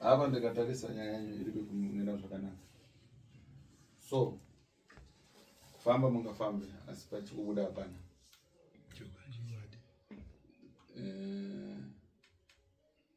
Hapa ndikatarisa nyaya yanyu iri kuenda zvakanaka. So kufamba mungafambe asi pachikubuda hapana.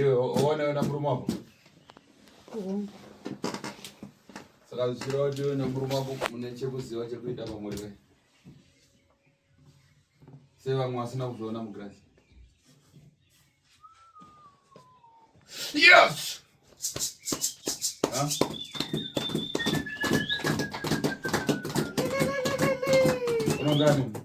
iwe oona yona murume wako saka zvichireva kuti iwe nemurume wako mune chekuziva chekuita pamuri ve sevamwe vasina kuzviona mugirasi yes unongani huh?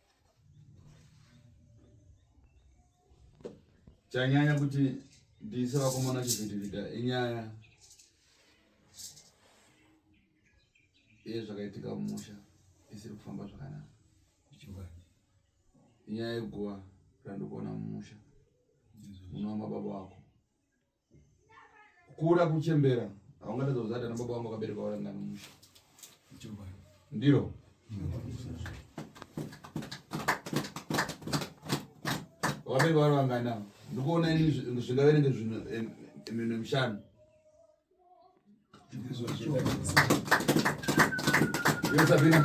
chanyanya kuti ndiise vakomana chivhitivhita inyaya yezvakaitika mumusha isiri kufamba zvakanaka inyaya yeguva randikuona mumusha munova mababa wako kura kuchembera haungatadza kuzata nababa vangu vakabereka varangana musha ndiro vakabereka vari vangana ndikuona ini zvingaverenge zvinhu eh, minhu mishanu iyo sabina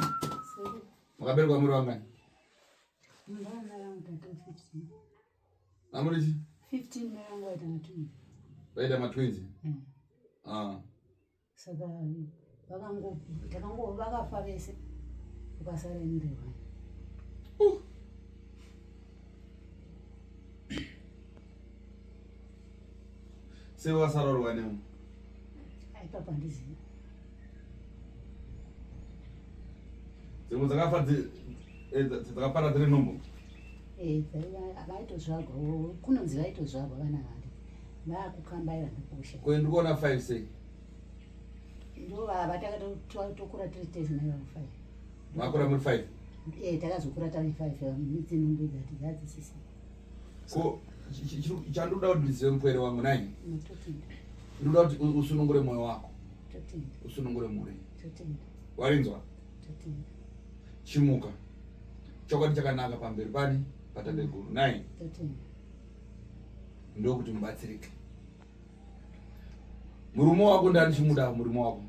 makaberekwa muri vangani Amuri chi? 15 mwangu aita matwins. Vaita matwins? Mm. Ah. Saka vakango takango vakafa vese. Ukasara ende wani. Uh. Sei wasarorwa nemu? Aipapa ndizivi. Dzimwe dzakafa eh, dzakapara dziri nhumbu. Eh, vaitozvagwa kunonzi vaitozvagwa vana vake. Vakukambaira ndokusha. Ko ndikuona 5 sei? Ndovava takatokura tiri tese nayo 5. Makura muri 5? Eh, takazokura tari 5 midzi nhumbu dzati dzadzisisa. ko chandoda kuti ndizive mupwere wangu nai ndoda kuti usunungure mwoyo wako usunungure mhuri warinzwa chimuka chokwadi chakanaka pamberi pani patabeguru nai ndokuti mubatsirike Murume wako ndani chimuda murume wako.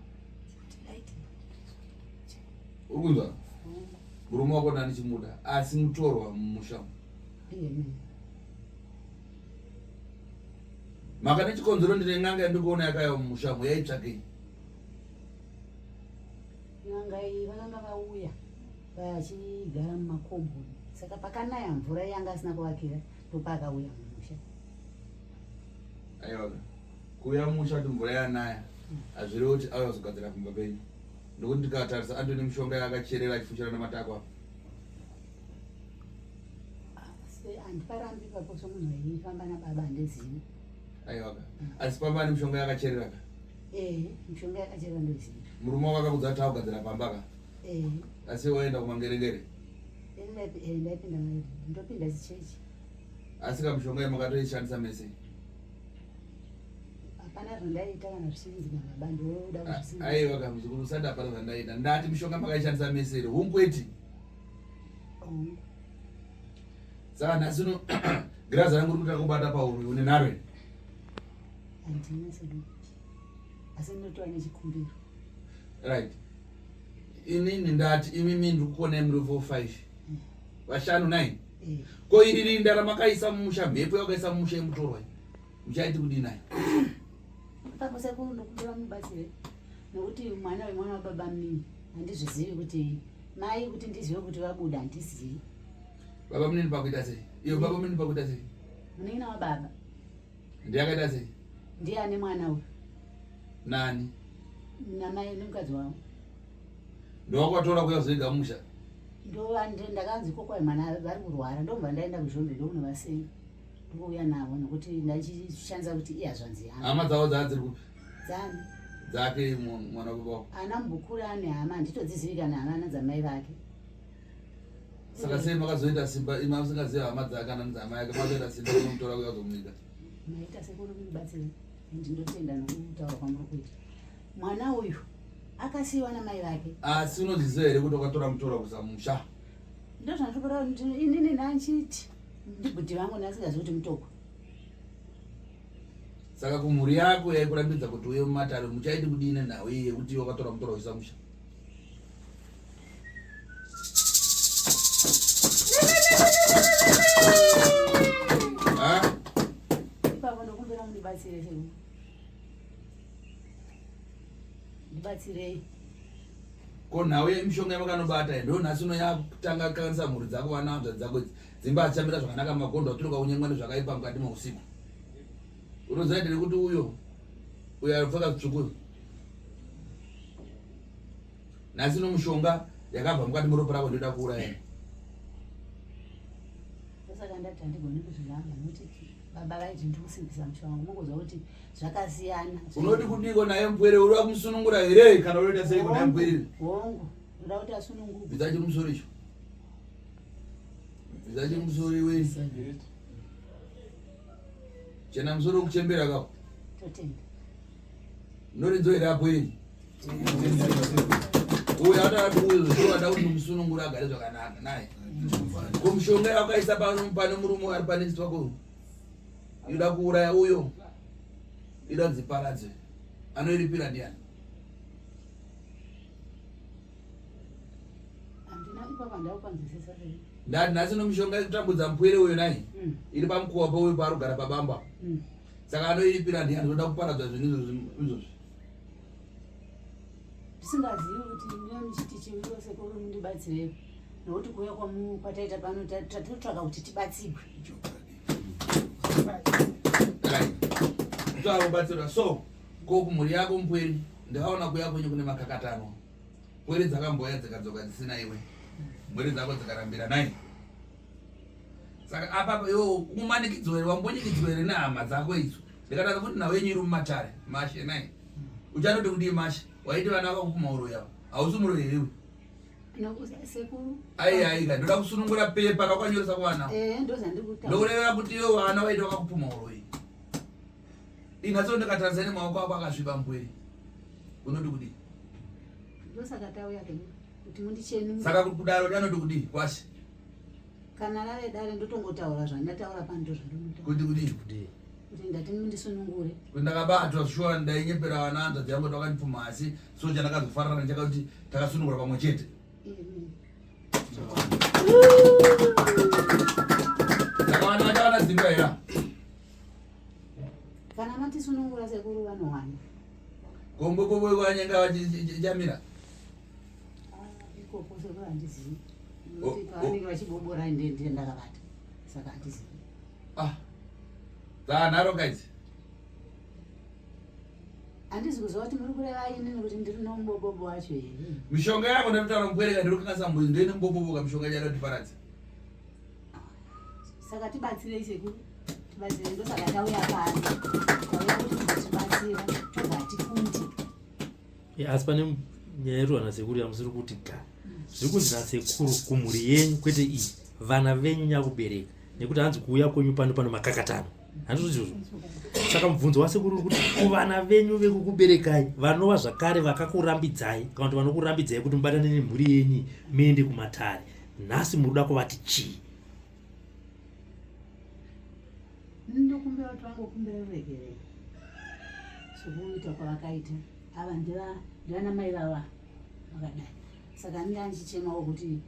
Ukunzwa? Murume wako ndani chimuda asi mutorwa mumusha. Maka nechikonzero ndine n'anga yandikuona yakayo mumusha yaitsvakei? N'anga iyi vakanga vauya vachigara mumakombo saka pakanaya mvura yanga asina kuvakira ndopakauya mumusha Aiwa. Kuya musha kuti mvura yanaya hazvirewo kuti auya kuzogadzira kumba penyu. Ndokuti ndikatarisa Antony mushonga yaakacherera achifushira nematako apa. Asi handiparambi ipapo somunhu aifamba nababa handizivi. Aiwa. Asi pamba ane mushonga yakacherera ka. Eh, mishonga yakachera ndoziva. Murume wako akakudza kuti akugadzira pamba ka. Eh. Asi waenda kumangerengere. Ndinopinda ndopinda zichechi. Asi ka mushonga yemakatoishandisa mese. Hapana zvandaita kana zvisinzi mama bandi woda ah, zvisinzi. Aiwa ka muzukuru usati hapana zvandaita. Ndati mushonga makaishandisa mese iri. Hunkweti. Hungu. Saka nhasi uno girazi rangu rikuta kubata pauri une nharo here? Handina sadu. Asi ndinotoa nechikumbiro. Right. Inini ndati imimi ndikukuonai muri 4 5. Vashanu 9. ko iri rinda ramakaisa mumusha mhepo yakaisa mumusha yemutorwa muchaiti kudii nayo ipapo sekuru ndokuti vamubatsire nokuti mwana wemwana wababa mnini handizvizivi kuti mai kuti ndizive kuti vabuda handizivi baba mnini pakuita sei iyo baba mnini pakuita sei munin'ina wababa ndiye akaita sei ndiye ane mwana uyu nani namai nemukadzi wavo ndowakwatora kuya kuzoiga musha ndakanzi kokwai mwana vari kurwara ndobva ndaenda kuzhombe ndokunovasei ndouya navo nokuti ndachishandisa kuti iye hazvanzi yangu hama dzavo dzaa dziri kupi dzani dzake mwana wekuba ana mbukuru ane hama handitodzizivi kana hama ana dzamai vake saka sei makazoita simba ima musingazivi hama dzake ana nzama yake makazoita simba inomutora kuya kuzomunika maita sekuru kunibatsira ndinotenda nokutaura kwamuri kuita mwana uyu akasiiwa namai vake asi unozviziva here kuti wakatora mutora kusamusha ndozvandikura inini nanchiti ndibhuti vangu ndasingazi kuti mutoko saka kumhuri yako yaikurambidza kuti uye mumatare muchaiti kudii nenhau iyi yekuti wakatora mutora kusamusha ipapo ndokumbira mundibatsire ndibatsirei ko nhau yemishonga yamakanobata ndo nhasi uno yakutanga kanisa mhuri dzako vana hanzvadzi dzako idzi dzimba hadzichamira zvakanaka magondo aturuka kunyengwa nezvakaipa mukati meusiku unoziva ndiri kuti uyo uyo anopfeka zvitsvuku nhasi no mushonga yakabva mukati muropa rako ndoda kuuraya saka ndati handigoni kuzviramba notiti baba vaiti ndikusimbisa musha wangu unongonzwa kuti zvakasiyana unoti kudiko naye mpwere uri wamusunungura here kana unoita sei kunaye mpwere hongu ndoda kuti asununguke bvisa chimusoro icho bvisa chimusoro iwe chena musoro kuchembera kako totenda noridzo here apo iri uyo atati uyo zvoada kuti musununguri agare zvakanaka naye ko mushonga yawakaisa pane murume ari pane chisi wako inoda kuuraya uyo inoda dziparadze anoiripira ndiani ndati nhasi nomushonga kutambudza mupwere uyo naye hmm. iri pamukuwa pauyo paarugara pabamba hmm. saka anoiripira ndiani zvoda kuparadzwa zvinhu izvozvi ndisingazivi kuti ndiyo ndichiti chimiro sekuru mundibatsirepo nokuti kuuya kwataita pano tatotsvaka kuti tibatsigwe taakubatsirwa so ko kumhuri yako mpweri ndakaona kuya kwenyu kune makakatano pweri dzakamboya dzikadzoka dzisina iwe mhuri dzako dzikarambira nai saka apapa iwo umanikidzwere wambunyikidzwere nehama dzako idzo Ndikatadza kuti nhau yenyu iri mumatare mashe naye. Uchatoti kudii mashe? Waiti vana vako kumauroyi avo. Hausi muroyi here iwe? Ai ai ka ndoda kusunungura pepa rakwanyoresa kwana. Eh ndozandi kuti. Ndokureva kuti iwe vana waiti vakakupuma uroyi. Inatso ndikatadza ne maoko ako akasviba mbweri. Unoti kudii? Ndosaka tauya kuti mundichenure. Saka kudaro anoti kudii? Kwashe. kana rave dare ndotongotaura zvandataura pano ndozvandinotaura kuti kudii kudii kuti ndati ndisunungure kuti ndakabatwa shuwa ndainyepera vana hanzvadzi yangu kuti vakandipfuma asi so chandakazofarana nacho kakuti takasunungura pamwe chete ndakawana vachawana dzimba here kana matisunungura sekuru vanowana kombokoboikwanyanga vachamira dzaanharo guys handizi kuziva kuti muri kureva ini nekuti ndiri nomubobobo wacho here mishonga yako ndatotaura mubwereka ndiri kukasa mbuzi ndoine muboboboka mishonga yacho yatotiparadza saka tibatsirei sekuru tibatsirei ndosaka tauya pano tauya kuti tibatsira tobva tifunde yeah, asi pane nyaya yedu vana sekuru yamusiri kuti ga zviri kunzi nasekuru kumhuri yenyu kwete iyi vana venyu nyakubereka nekuti hanzi kuuya kwenyu pano pano makakatano handizvozvozvo saka mubvunzo wasekuru uri kuti kuvana venyu vekukuberekai vanova zvakare vakakurambidzai kana kuti vanokurambidzai kuti mubatane nemhuri yenyu muende kumatare nhasi muri kuda kuvati chii ndokumbira kuti vangokumbira ruregerero sokuita kwavakaita ava ndivana mai vava vakadai saka anenge andichichemawo kuti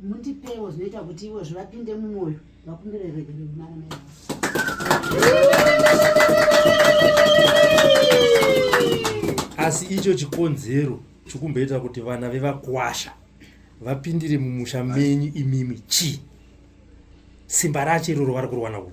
mundipewo zvinoita kuti ivo zvivapinde mumwoyo vakumbire regero mara mai asi icho chikonzero chokumboita kuti vana vevakwasha vapindire mumusha menyu imimi chii simba racho iroro vari kurwana uku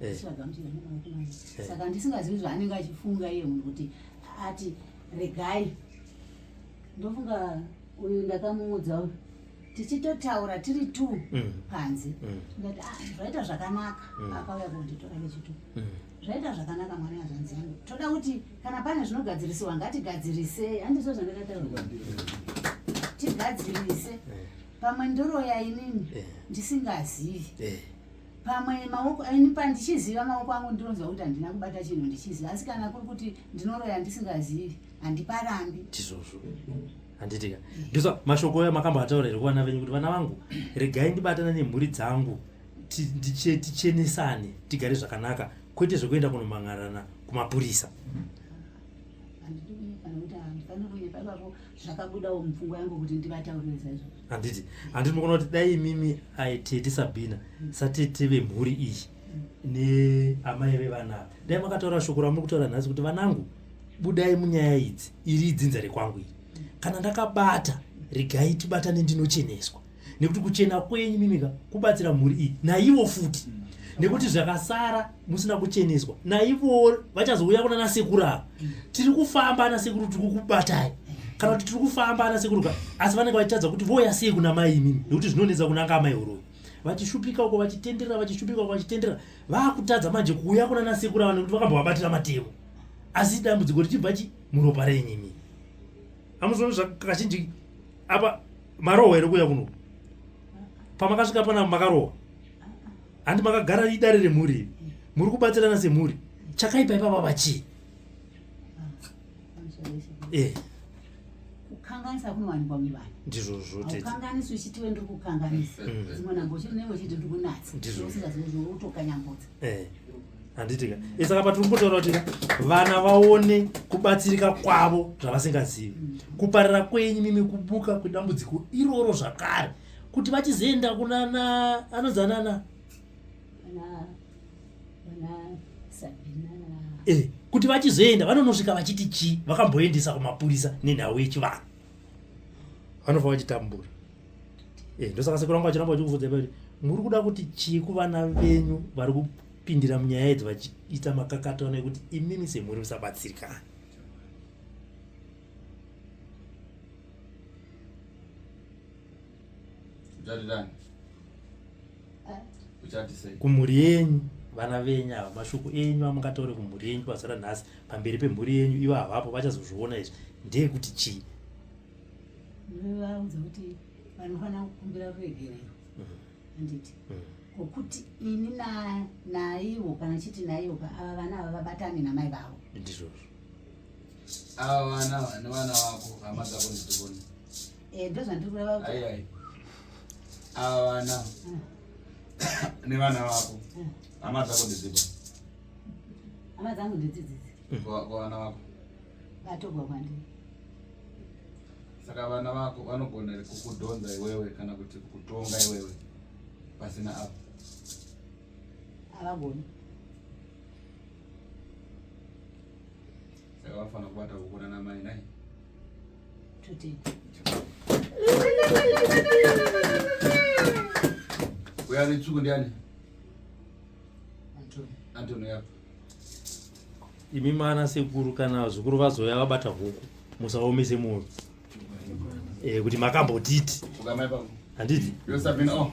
eh. eh. saka ndisingazivi zvaanenge achifunga iye munhu kuti ati regai ndofunga uyu ndakamuudza uyu tichitotaura tiri t mm. panze mm. ndati ah, zvaita zvakanaka mm. akauya kunditora vechitu zvaita zvakanaka mwana yazvanzi yangu toda kuti kana pane zvinogadzirisiwa ngatigadzirise handizvo zvandakataura tigadzirise pamwe ndoroya inini ndisingazivi pamwe maoko ini pandichiziva maoko angu ndinonzwa kuti handina kubata chinhu ndichiziva asi kana kuri kuti ndinoroya ndisingazivi handiparambi tizvozvo handitika ndisa mm. mashoko oyo makamboataura here kuvana venyu kuti vana vangu regai ndibatana nemhuri dzangu tichenesane tigare zvakanaka kwete zvekuenda kunomhangarana kumapurisa zvakabudawo mupfungwa yangu kuti ndivataurire zaizvo handiti handiti mukuona kuti dai imimi aitete sabina satete vemhuri iyi neamai vevana ava dai makataura shoko ramuri kutaura nhasi kuti vanangu budai munyaya idzi iri idzinza rekwangu iri kana ndakabata regai tibatane ndinocheneswa nekuti kuchena kwenyu mimika kubatsira mhuri iyi naivo futi nekuti zvakasara musina kucheneswa naivowo vachazouya kuna nasekuru ava mm. tiri kufamba anasekuru tiri kukubatai kana kuti tiri kufamba anasekuru ka asi vanenge vachitadza kuti voya sei kuna mai imimi nekuti zvinonetsa kunanga amai horoyi vachishupika uko vachitenderera vachishupika uko vachitenderera vakutadza manje kuuya kuna nasekuru ava nekuti vakambovabatira matemo asi dambudziko richibva chi muropa renyimi amuzoona zvakazhinji apa marohwa here kuya kuno pamakasvika pana makarohwa handi makagara idare remhuri iri muri kubatsirana semhuri chakaipa ipapa vachii eh. kukanganisa kunowanikwa muvanhu ndizvozvo tekanganisi uchiti wendiri kukanganisa mm. dzimwe nhambo uchinenge uchiti ndiri kunatsa ndizvozvotokanyambudza eh. handitika eh, saka patiri kumbotaura kuti vana vaone kubatsirika kwavo zvavasingazivi mm. kuparira kwenyu mimi kubuka kwedambudziko iroro zvakare kuti vachizoenda kunana anonzi anana eh, kuti vachizoenda vanonosvika vachiti chii vakamboendesa kumapurisa nenhau yechivanhu vanofa vachitambura eh, ndosaka sekuru vangu vachiramba vachikuvudza kuti muri kuda kuti chii kuvana venyu vari kupindira munyaya idzi vachiita makakato ana ekuti imimi semhuri musabatsirikana kumhuri yenyu vana venyu ava mashoko enyu amungataure kumhuri yenyu pazuva ranhasi pamberi pemhuri yenyu ivo havapo vachazozviona izvi ndeyekuti chii vaudza kuti vanofanira kukumbira ruregerero handiti mm. ngokuti mm. ini naivo kana chiti naivo ava vana ava vabatane namai vavo ndizvozvo ava vana vane vana vako hama dzako ndidzikoni Eh, ndozvandiri kureva kuti. Ayi ayi. Ava vana. Mm. Nevana vako. Mm. Hama dzako ndedzipa. Hama dzangu ndedzidzidzi. Kwa vana vako. Vatogwa kwandiri. Saka vana vako vanogona here kukudhonza iwewe kana kuti kukutonga iwewe pasina apo? Havagoni. Saka vanofanira kubata kukona namai nai. Wewe ni chuku ndiani? Antoni. Antoni yako. Imi mana sekuru kana zukuru vazoya vabata huku musaomise moyo. Eh kuti makambotiti. Ukamai pako. Handiti? Yosabina oh.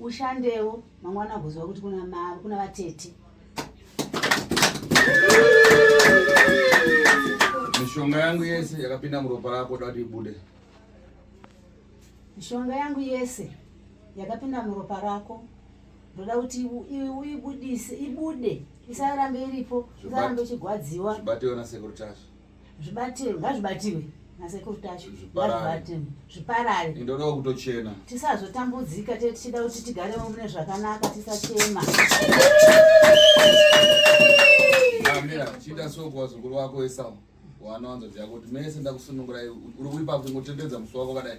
ushandewo mangwana agoziva kuti kuna mavo kuna vatete mishonga yangu yese yakapinda muropa rako da kuti ibude mishonga yangu yese yakapinda muropa rako ndoda kuti uibudise ibude isarambe iripo isarambe ichigwadziwa zvibatewo nasekuru tasha zvibatirwe ngazvibatirwe nasekuru tacho ngazvibatirwe zviparare indoda kutochena tisazotambudzika te tichida kuti tigarewo mune zvakanaka tisachema amira chiita so kuwazukuru wako esau wanowanzodzi yako kuti mese ndakusunungurai uri kuipa kungotendedza musi wako kadai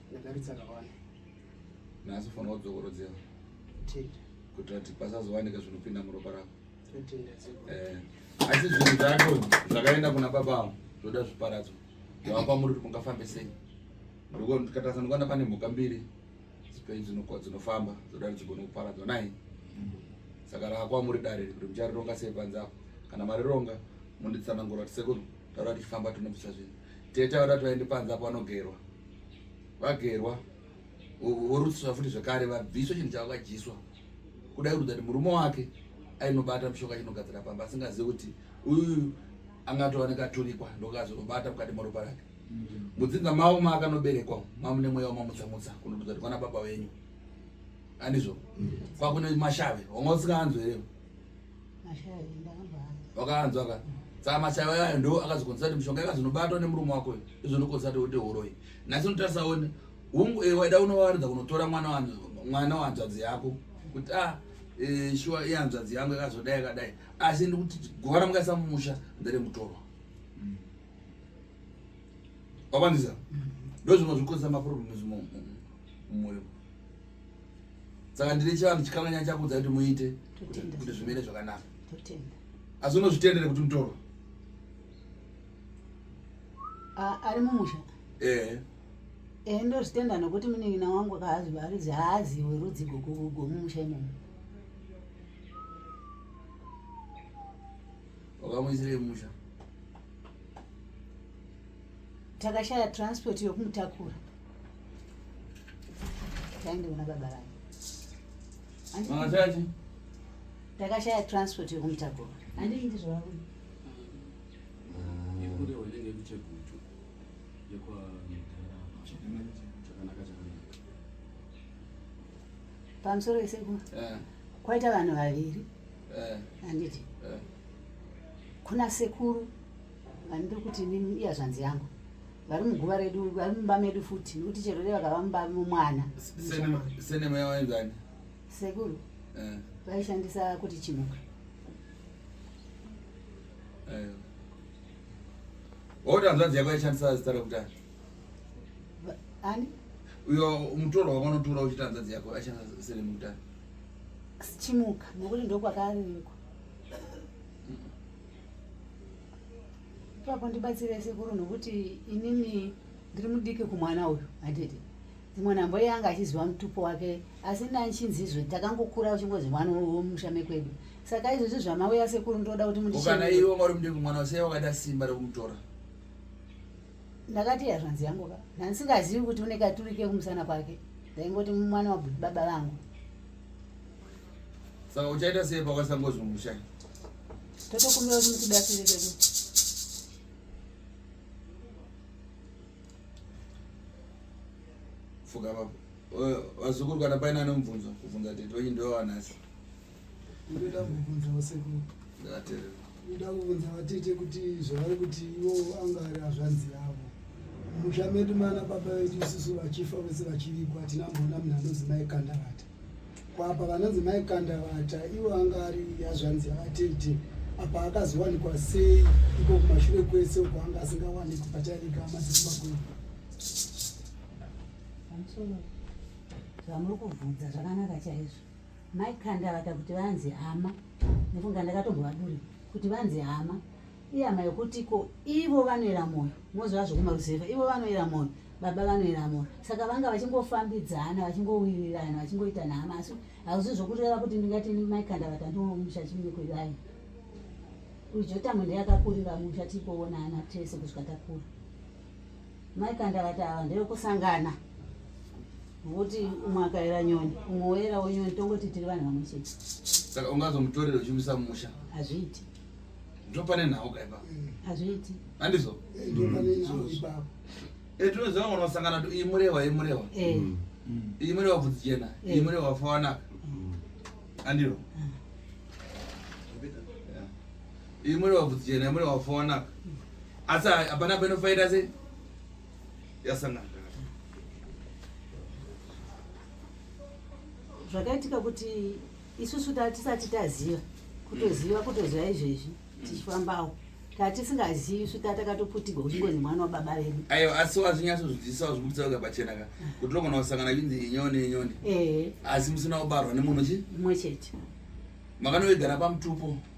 Ndadaridza kawani. Nhasi ufanira kudzokorodzera. Tenda. Kuitira kuti pasazowanika zvinopinda muropa rako. Tenda dzeko. Eh. Asi zvinhu zvacho zvakaenda kuna baba avo zvoda zviparadzo. Zvavapa muri kuti mungafambe sei? Ndiko ndikatasa ndikwana pane mhuka mbiri dzipei dzinofamba dzoda kuti dzigone kuparadzwa nai. Saka rakwa muri dare kuti mucharironga sei panze apo. Kana marironga munditsanangura kuti sekuru taura tichifamba tinobvisa zvinhu. Tete vada twaende panze apo vanogerwa. Vagerwa vorutsiswa futi zvekare vabviswa chinhu chavo kadyiswa. Kuda kurudza kuti murume wake ainobata mushoka chinogadzira pamba asingazivi kuti uyu angatova nekaturikwa ndokazonobata mukati moropa rake mm. mudzinza mavo maakanoberekwa mamune mweya wamamutsamutsa kunodudza kuti kwana baba venyu andizvo mm. kwakune mashave wanga usingaanzwi here wakanzwa ka saka mashaya ayayo ndo akazokonzesa kuti mishonga ikazonobatwa nemurume wako izonokonzesa kuti wote horoyi nhasi unotarisa one hungu eh, waida unovaridza kunotora mwana mwana wanzvadzi yako kuti a ah, eh, shuwa iyanzvadzi yangu yakazodai yakadai asi ndikuti guva ramukaisa mumusha ndere mutorwa mm. wakwanisa mm. ndozvimwe zvikuisa maproblem mumwoyo saka ndine chivanhu chikananya chakudza kuti muite kuti zvimene zvakanaka asi unozvitendere kuti mutoro ari mumusha ehe ehe ndozvitenda nokuti munin'ina wangu kaazivarizi haaziwe rudzi gomumusha imomo wakamuisirei musha takashaya transport yokumutakura Taende kuna baba vangu. Vangashaje? Takashaya transport yekumutakura. Handii ndizvo vangu. Yekure wanenge kuchegutu. Yekwa chakanaka chakanaka. Pamusoro iseku. Eh. Kwaita vanhu vaviri. Eh. Handiti? Eh. Kuna sekuru. Handidi kuti inini iyazvanzi yangu vari muguva redu vari mumba medu futi nekuti chero dai vakava mumba momwana senema yawainzani sekuru eh. vaishandisa kuti chimuka eh. oti hanzvanzi yako yaishandisa zita rekutanga ani uyo mutoro wakanotora uchiti hanzvanzi yako aishandisa senema kutanga chimuka nekuti ndokwakariko Papa ndibatsire sekuru nokuti inini ndiri mudiki kumwana uyu handiti mwana mbo yanga achiziva mutupo wake asi ndanchinzizve takangokura uchingozi mwana womusha mekwedu saka izvozvi zvamauya sekuru ndoda kuti mundikana iwe wanga uri mudiki kumwana usei wakada simba rekumutora ndakati hazvanzi yangu ka ndandisingazivi kuti une katuri kekumusana kwake ndaingoti mwana wabudi baba vangu saka uchaita sei pakasangozungusha totokumbira kuti mutibatsire kekuti fuka vapo vazukuru kana paine anomubvunzo kubvunza tete wenyu ndowanasi Ndoda kuvhunza vasekuru. Ndatele. Ndoda kuvhunza vatete kuti zvavari kuti iwo anga ari azvanzi yavo. Musha medu mana baba vedu isusu vachifa vese vachirikwa hatina mbona munhu anonzi mai Kandavata. Kwapa vanonzi mai Kandavata iwo anga ari azvanzi avatete. Apa akazowanikwa sei iko kumashure kwese uko anga asingawanikwi patairika madzimba kwedu. Pamusoro. Zvamuri kuvhunza zvakanaka chaizvo. Mai Kandavata kuti vanzi hama nekunga ndakatombovaduri kuti vanzi hama iyama yokuti ko ivo vanoera mwoyo mozova zvokumaruzeva ivo vanoera mwoyo baba vanoera mwoyo saka vanga vachingofambidzana vachingowirirana vachingoita nhama asi hauzi zvokureva kuti ndingati mai Kandavata ndomusha chimikuivai uyu jotamwe ndeyakakurira musha tipoona ana tese kusvika takura Mai Kanda vati ava ndevekusangana vokuti umwe akaera nyoni umwe woerawo nyoni tongoti tiri vanhu vamwe chete saka ungazomutorera uchimuisa mumusha hazviiti ndopane nhau kaipa hazviiti handizo etinoziva eh, unosangana kuti iyi murehwa iyi murehwa eh. mm. mm. iyi murehwa bvudzi jena eh. iyi murehwa fawanaka mm. andiro imwe vabvudzi jena imwe vafona asi hapana panofaita se yasangana zvakaitika kuti isusu tatisati taziva kutoziva kutoziva izvezvi tichifambawo tatisingazivi isu tatakatoputigwa kuchingonzi mwana wababa vedu ayo asi wazvinyatso zvidzisawo zvibudisa uka pachena ka kuti unogona kusangana chinzi inyoni inyoni asi musina kubarwa nemunhu chi mumwe chete makanoigara pamutupo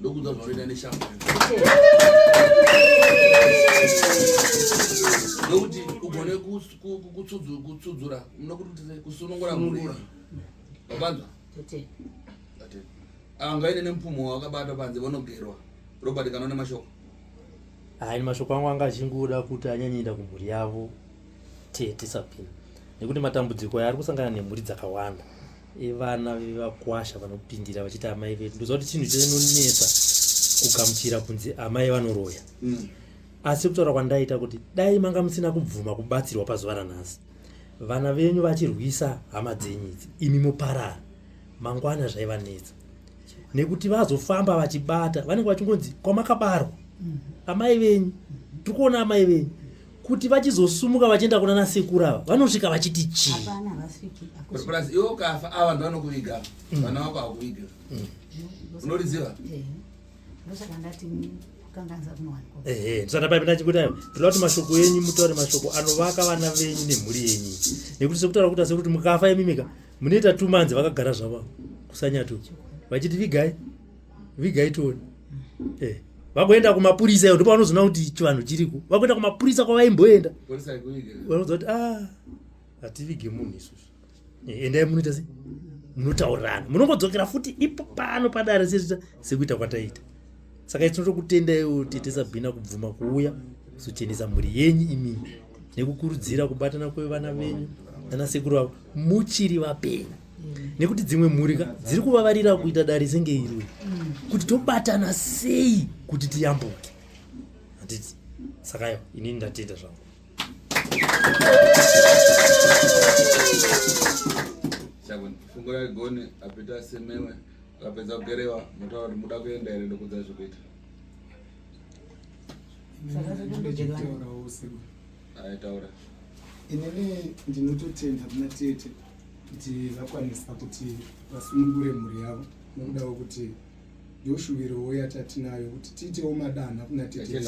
Ndokuda kujoina neshamhu. Nokuti ugone kutsudzura nokuti kusunungura mhuri. Wabanzwa? Tete. Tete. Ava ngaine nemupfumo wakabata panze vanogerwa. Robert kana une mashoko? Hayi mashoko angu anga achingoda kuti anyanyeenda kumhuri yavo tete sapini nekuti matambudziko yaari kusangana nemhuri dzakawanda evana vevakwasha vanopindira vachiti amai vedu ndoziva kuti chinhu chinonetsa kugamuchira kunzi amai vanoroya mm. asi kutaura kwandaita kuti dai manga musina kubvuma kubatsirwa pazuva ranhasi vana venyu vachirwisa hama dzenyu idzi imi muparara mangwana zvaivanetsa nekuti vazofamba vachibata vanenge vachingonzi kwamakabarwa mm-hmm. amai venyu tiri kuona amai venyu kuti vachizosumuka vachienda kuna nasekuru ava vanosvika vachiti chii plus iwe ukafa ava vanhu vanokuviga mm. vana vako hakuviga mm. unoriziva tisana paipi nachikudai toda kuti mashoko enyu mutaure mashoko anovaka vana venyu nemhuri yenyu nekuti sekutaura kuti asekuti mukafa imimika munoita two months vakagara zvavo kusanyatu vachiti vigai vigai tione eh, vakuenda kumapurisa iyo ndopavanozoona kuti chivanhu chiriko vakuenda kumapurisa kwavaimboenda vanoziva kuti ah, hativige munhu isusu eh, endai munoita se munotaurirana munongodzokera futi ipo pano padare sesita sekuita kwataita saka itinoto kutendaiwo tete sabhina kubvuma kuuya kuzochenesa mhuri yenyu imii nekukurudzira kubatana kwevana venyu nanasekuru vavo muchiri vapenyu nekuti dzimwe mhuri ka dziri kuvavarira kuita dare senge iri kuti tobatana sei kuti tiyambuke handiti saka yo inini ndatenda zvangu fungo yaigoni apita semewe akapedza kugerewa motaura kuti muda kuenda here ndokudza zvekuita aitaura inini ndinototenda kuna tete kuti vakwanisa kuti vasungure mhuri yavo nokuda kwekuti ndoshuvirowo yatatinayo kuti tiitewo madanha kuna tete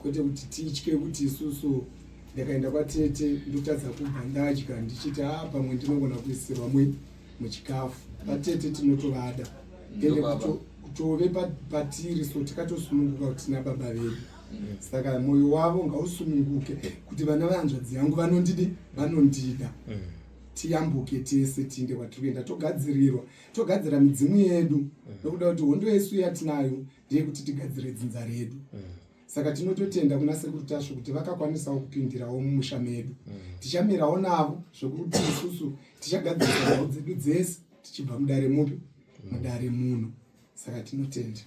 kwete kuti titye kuti isusu ndakaenda kwatete ndotadza kubva ndadya ndichiti a ah, pamwe ndinogona kuisirwa mui muchikafu vatete tinotovada ende kutove patiri so tikatosununguka kuti tina baba vedu saka mwoyo wavo ngausununguke kuti vana vehanzvadzi yangu vanondidi vanondida tiyambuke tese tiinde kwatiri kuenda togadzirirwa togadzira midzimu yedu nokuda kuti hondo yesu yatinayo ndeyekuti tigadzire dzinza redu saka tinototenda kuna sekuru tasvo kuti vakakwanisawo kupindirawo mumusha medu mm. tichamirawo navo zvekuti isusu tichagadzirisa nhau dzedu dzese tichibva mudare mupi mm. mudare muno saka tinotenda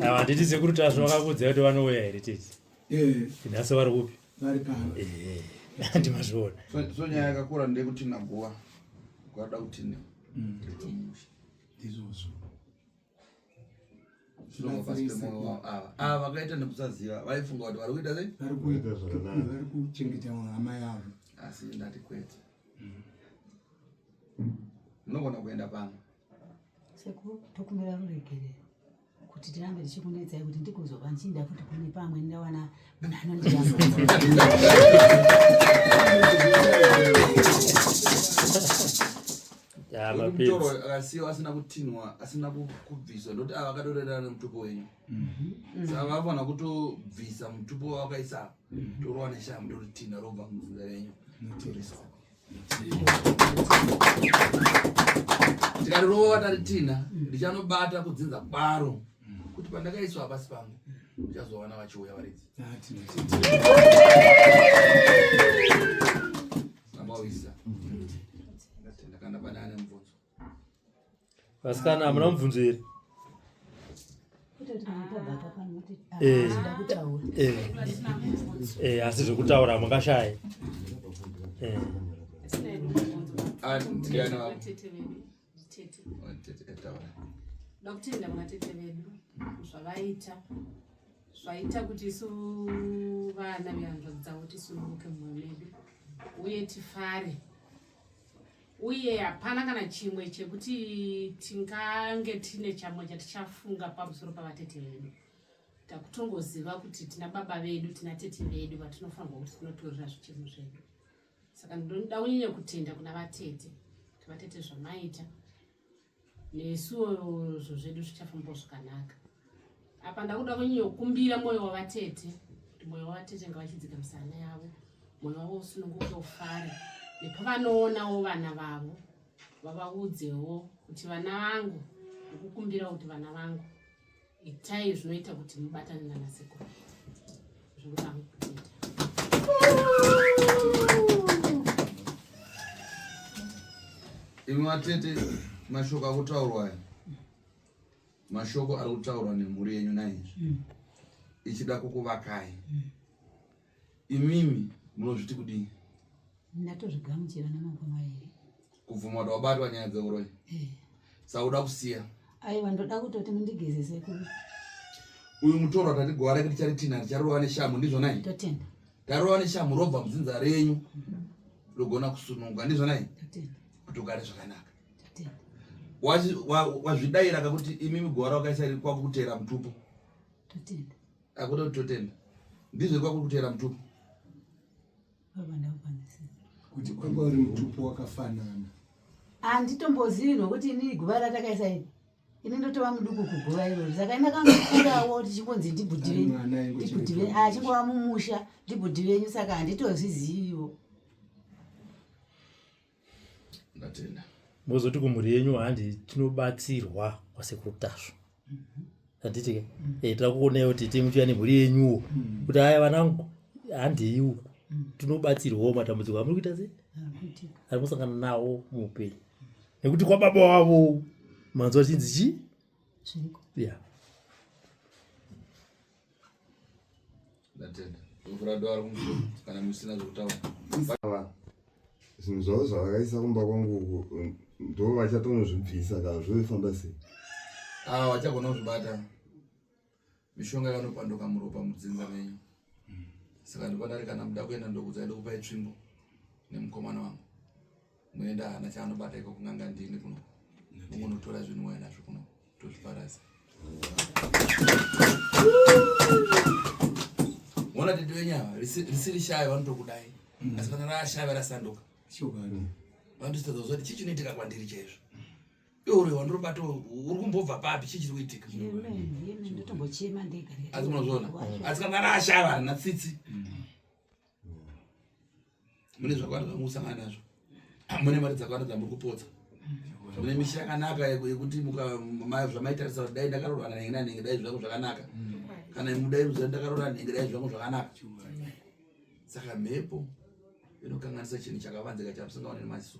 ava handiti sekuru tasvo vakakudza kuti vanouya here tete eh. nhasi vari kupi vari pano eh, ndimazviona so nyaya yakakura ndeyekuti naguva ukada kutine mm. ndizvozvo ava vakaita nekusaziva vaifunga kuti vari kuita sei vari kuchengeta hama yavo asi ndati kwete unogona kuenda pano sekuru tokumbira ruregerero kuti tirambe tichikunetsai kuti ndikuzova ndichinda kuti kune pamwe ndawana munhu anondiaa mutoro akasiyiwa asina kutinwa asina kubviswa ndoti ava akatorerana nemutupo wenyu mhm. saka vafana kutobvisa mutupo wavakaisa mhm. torova neshamu ndoritinha robva muzinda renyu tikati rova taritinha mhm. ndichanobata kudzinza kwaro kuti pandakaiswa apasi pangu ndichazowana vachiuya varidzi ah, vasikana hamuna mubvunzo here eh, eh, eh, asi zvekutaura mukashaye Tete. Oh, tete kataura. Ndakutenda mwana tete vedu zvavaita zvaita kuti isu vana vehanzvadzi dzavo tisununguke mumwe medu uye tifare uye hapana kana chimwe chekuti tingange tine chamwe chatichafunga pamusoro pavatete vedu takutongoziva kuti tina baba vedu tina tete vedu vatinofanirwa kuti tinotorera zvichemo zvedu saka ndinoda kunyanya kutenda kuna vatete kuti vatete zvamaita nesuwo zvo zvedu zvichafambawo zvakanaka apa ndakuda kunyanya kukumbira mwoyo wavatete kuti mwoyo wavatete ngavachidzika misana yavo mwoyo wavo usununguke ufare nepavanoonawo vana vavo vavaudzewo kuti vana vangu ndikukumbirawo kuti vana vangu Itai zvinoita kuti mubatane nana sekuru zvekuti amukupinda. Imi vatete, mashoko akutaurwa aya mashoko ari kutaurwa nemhuri yenyu naizvi mm. ichida kukuvakai mm. Imimi munozviti kudii? Ndatozvigamuchira namangoma here? Kubvuma kuti wabatwa nyaya dzeuroyi? Eh. Sauda kusiya? Aiwa ndoda kutoti mundigezese kuri. Uyu mutoro atati gowa rake ticharitina richarova neshamhu ndizvona izvi? Totenda. Tarova neshamhu robva mudzinza renyu rogona kusununguka ndizvona izvi? Totenda. Kuti ugare zvakanaka. Totenda. Wazvidaira kakuti imimi gowa rakaisa kwakuteera mutupo. Totenda. akuda kuti totenda ndizvo kwakuri kuteera mutupo kuti kwanga uri mutupo wakafanana handitombozivi nokuti inini guva ratakaisa iri ini ndotova muduku kuguva irori saka ini akangofungawo tichingonzi ndibhudhi venyu ndibhudhi venyu achingova mumusha ndibhudhi venyu saka handitozviziviwo ndatenda mozoti kumhuri yenyu handi tinobatsirwa kwasekuru tasvo handiti ke mm. eh, tira kuonai kuti timuchiuya nemhuri yenyuwo mm. kuti haya vanangu handei uku mm. tinobatsirwawo matambudziko amuri kuita se ari kusangana nawo muupenyu nekuti kwababa wavo manzwa chinzi chii ya ndatenda ndovhura dora rikumuso kana musina zvekutaura zvinhu zvavo zvavakaisa kumba kwangu uku ndo vachatonozvibvisa ka zvofamba sei a ah, vachagona kuzvibata mishonga yakanopanduka muropa mudzinza menyu saka ndikwadari kana muda kuenda ndokudzai ndokupai tsvimbo nemukomana wangu Moenda hana chaanobata iko kunanga ndini kuno. Munotora zvinhu wena nazvo kuno. Tozviparasa. Mona tete wenyu ava risiri shaya vanotokudai. Mm. Asi kana rashaya varasanduka. Chokwadi. Vanototadza kuzoti chii chinoitika kwandiri chaizvo. Iwe wandiri kubata uri kumbobva papi chii chiri kuitika. Asi munozviona. Asi kana rashaya vana tsitsi. Mm. mune zvakawanda zvamusangana nazvo mune mari dzakawanda dzamuri kupotsa mune misha yakanaka yekuti zvamaitarisa kuti dai ndakarora nenge nanenge dai zvangu zvakanaka kana mudai ruziva ndakarora nenge dai zvangu zvakanaka saka mhepo inokanganisa chinhu chakavanzika chamusingaone nemaziso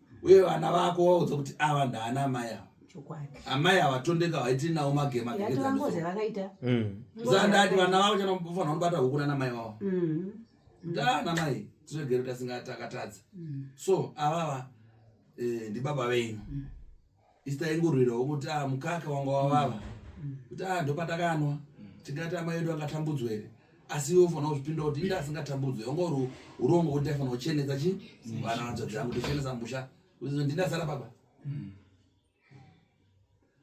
uye vana vako waudza kuti ava ndaana amai ava amai havatondeka vaiti nawo magema zandati mm. vana vavo chanofanira kunobata huku nana mai vavo mm. ndana mai tiregere tasingatakatadza mm. so avava eh, ndibaba venyu isi taingorwirawo kuti a ah, mukaka wanga wavava mm. kuti a ah, ndopatakanwa mm. tingati amai edu angatambudzwa here asi iwe ufanira kuzvipinda kuti inde asingatambudzwe wanga uri urongo kuti ndaifanira kuchenesa chi mm. vana vanzvadzi yangu ndochenesa musha uzizo ndindasara baba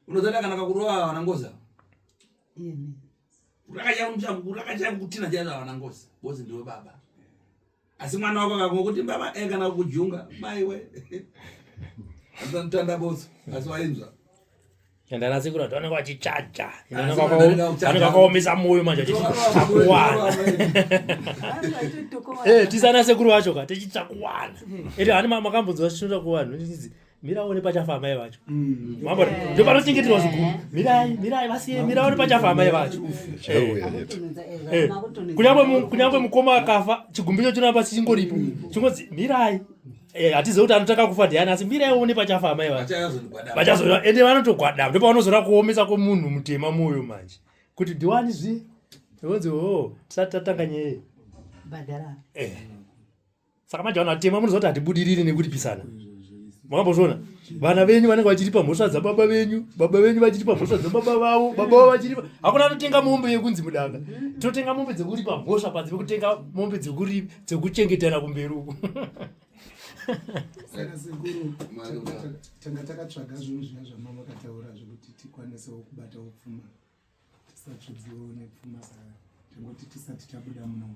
unoziva ndakanaka kurova vana ngoza kurakachaya kutina chaizo vana ngoza bozi ndiwe baba asi mwana wako akamwa kuti baba e kana kujunga maiwe atotanda botso asi wainzwa and anasi kuti vanenge vachichaja vanenge vakaomesa moyo manje tichitsvakuwana eh, tisana sekuru vacho ka tichitsvakuwana ete hani makambonzwa zvinoda kuvanhu miraone pachafa amai vacho mm. mambo ndo panochengeterwa zvikuru mirai mirai vasiye miraone pachafa amai vacho eh. eh. kunyangwe mukoma akafa chigumbicho chinoramba chichingoripo chingonzi mirai eh, hatizive kuti anotanga kufa diani asi mirai one pachafa amai vacho vachazoa ende vanotogwadama ndo pavanozora kuomesa kwomunhu mutema mwoyo manje kuti diwani zvi vonzi o oh, tisati tatanga nyeye saka manje vanhu vatema munoziva kuti hatibudiriri nekuripisana makambozviona vana venyu vanenge vachiripa mhosva dzababa venyu baba venyu vachiripa mhosva dzababa vavo baba vavo vachiripa hakuna anotenga mombe yekunzi mudanga tinotenga mombe dzekuripa mhosva panze pekutenga mombe dzekuchengetana kumberi uku saka sekuru tanga takatsvaga zvinhu zviya zvamama kataura zvekuti tikwanisewo kubata upfuma tisatsvudziwo nepfuma saa tangoti tisati tabuda muno